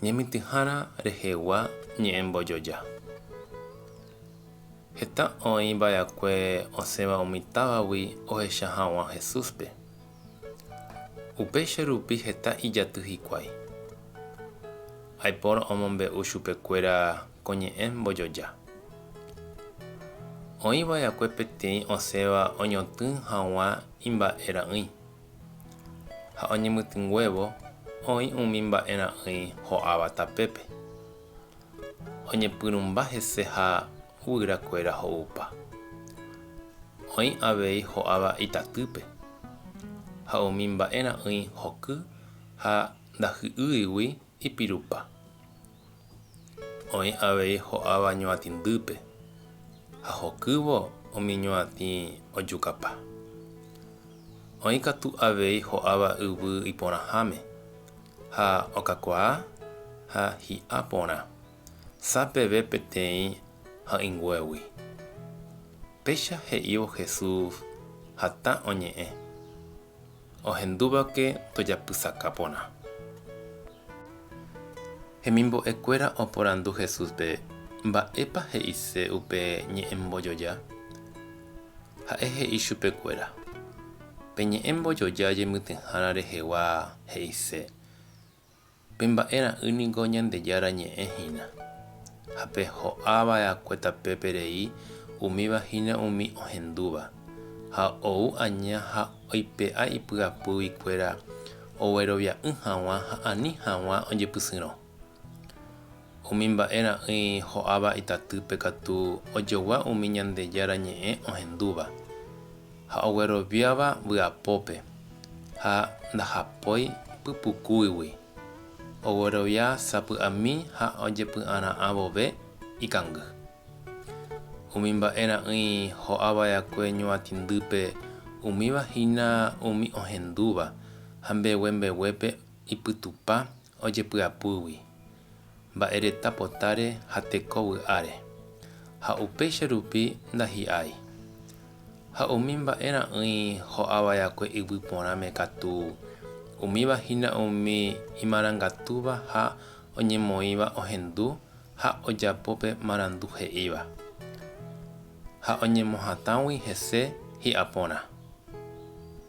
Ñemityhára rehegua ñe'ẽmbojoja. Heta oĩ va'ekue osẽva umi távagui ohecha hag̃ua Jesúspe. Upéicha rupi heta ijaty hikuái. Aipórõ omombe'u chupekuéra ko ñe'ẽ mbojoja. Oĩ va'ekue peteĩ osẽva oñotỹ hag̃ua imba'erã'ỹi. ha oñemitỹnguévo oĩ umi mba'e ra'ỹi ho'áva tapépe. Oñepyrũmba hese ha guyra kuéra ho'upa. Oĩ avei ho'áva itatýpe, ha umi mba'e ra'ỹi hoky ha ndahy'ýigui Ipirupa. Oĩ avei ho'áva ñuatĩndýpe, ha hokývo umi ñuatĩ ojukapa. Oĩ katu avei ho'áva yvy iporãháme, ha okakuaa ha hi'a porã, sa peve peteĩ ha'ỹnguégui. Péicha he'ívo Jesús hatã oñe'ẽ. ohendúvake tojapysaka porã. Hemimbo'ekuéra oporandu Jesúspe mba'épa he'ise upe ñe'ẽmbojoja. Ha'e he'i chupekuéra, Pe ñe'ẽmbojoja jemytyhárã rehegua he'ise. Pe mba'e ra'y niko Ñandejára ñe'ẽ hína. Ha pe ho'a va'ekue tapépe rei umíva hína umi ohendúva, ha ou aña ha oipe'a ipy'apýgui kuéra oguerovia'ỹ haguã ha ani haguã ojepysyrõ. Umi mba'e ra'ỹi ho'áva itatýpe katu ojogua umi Ñandejára Ñe'ẽ ohendúva ha ogueroviáva vy'apópe ha ndahapói pypukúigui, oguerovia sapy'ami ha ojepy'ara'ã vove ikangy. Umi mba'e ra'ỹi ho'a va'ekue ñuatĩndýpe umíva hína umi ohendúva ha mbegue mbeguépe ipytupa ojepy'apýgui mba'e reta potáre ha teko vy'áre, ha upéicha rupi ndahi'ái. Ha umi mba'e ra'ỹi ho'a vaekue yvy porãme katu, umíva hína umi imarangatúva ha oñemoĩva ohendu ha ojapo pe marandu he'íva, ha oñemohatãgui hese hi'a porã.